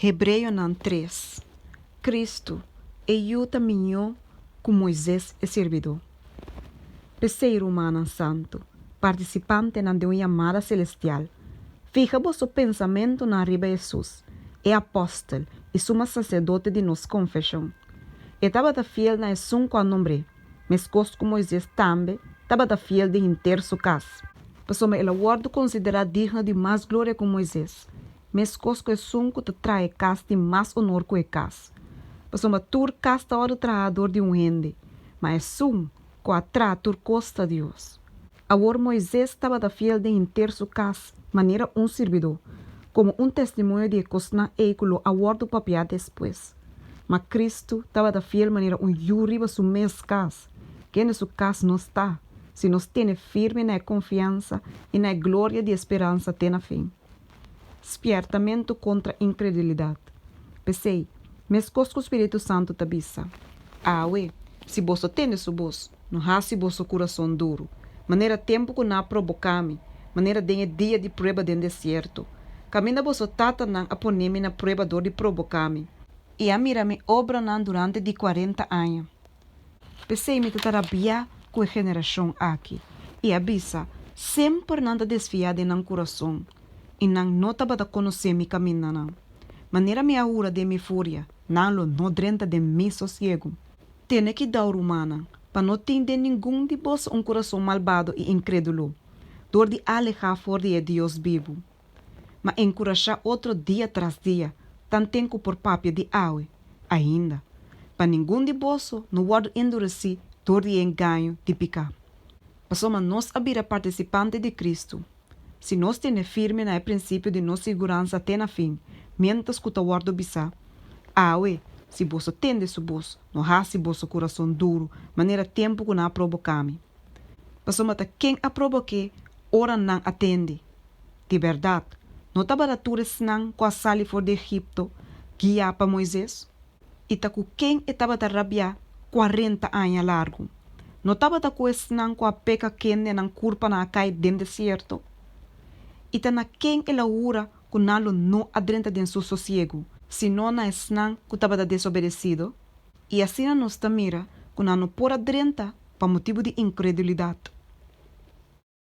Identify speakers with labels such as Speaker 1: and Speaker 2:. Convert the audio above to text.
Speaker 1: Hebreonan tres, Cristo e yu ta miñó cu Moises e sirbidó. P'esey, rumannan santu, participantenan den un yamada celestial, fiha boso pensamentonan riba Hesus, e apostel y suma sacerdote di nos confesion. E tabata fiel na esun cu a nombr'é, mescos cu Moises tambe tabata fiel den henter su cas. Pasobra el a wordo considera digno di mas gloria cu Moises. Meskos ku esun ku ta traha e kas tin mas onor ku e kas. Pasobra tur kas ta orde traha dor di un hende, ma esun ku a traha tur kos ta Dios. Awor Moises tabata fiel den henter su kas manera un sirbidó, komo un testimoño di e kosnan ei ku lo a wòrdu papiá despues. Ma Kristu tabata fiel manera un yu riba su mes kas, kende su kas nos ta, si nos tene firme na e konfiansa i na e gloria di e speransa te na fin. Spiertamentu kontra inkredulidat. P'esei, meskos ku spiritu santu ta bisa, Awe, si bos ta tende su bos, no hasi boso kurason duru, manera tempu ku nan a proboká mi, manera den e dia di prueba den desierto. Kaminda boso tatanan a pone mi na prueba dor di proboká mi, i a mira mi obranan durante di kuarenta aña, P'esei mi ta ta rabiá ku e generashon aki i a bisa, Semper nan ta desfiá den nan kurason, i nan no tabata konosé mi kamindanan. Manera mi a hura den mi furia, nan lo no drenta den mi sosiegu. Tene kidau, rumannan, pa no tin den ningun di boso un kurason malbado i inkrédulo, dor di alehá for di e Dios bibu. ma enkurashá otro dia tras dia, tanten ku por papia di awe ainda, pa ningun di boso no wòrdu enduresí dor di e engaño di piká. Pasobra nos a bira partisipante di Kristu, si nos tene firme na e prinsipio di nos siguransa te na fin, miéntras ku ta wòrdu bisá, Awe, si boso tende su bos, no hasi boso kurason duru manera tempu ku nan a proboká mi. Pasobra ta ken a probok'é ora nan a tende? Di bèrdat, no tabata tur esnan ku a sali for di Egipto guiá pa Moises? I ta ku ken e tabata rabiá kuarenta aña largu? No tabata ku esnan ku a peka kende nan kurpanan a kai den desierto? I ta na ken e la hura ku nan lo no a drenta den su sosiegu, sino na esnan ku tabata desobedesido? I asina nos ta mira ku nan no por a drenta pa motibu di inkredulidat.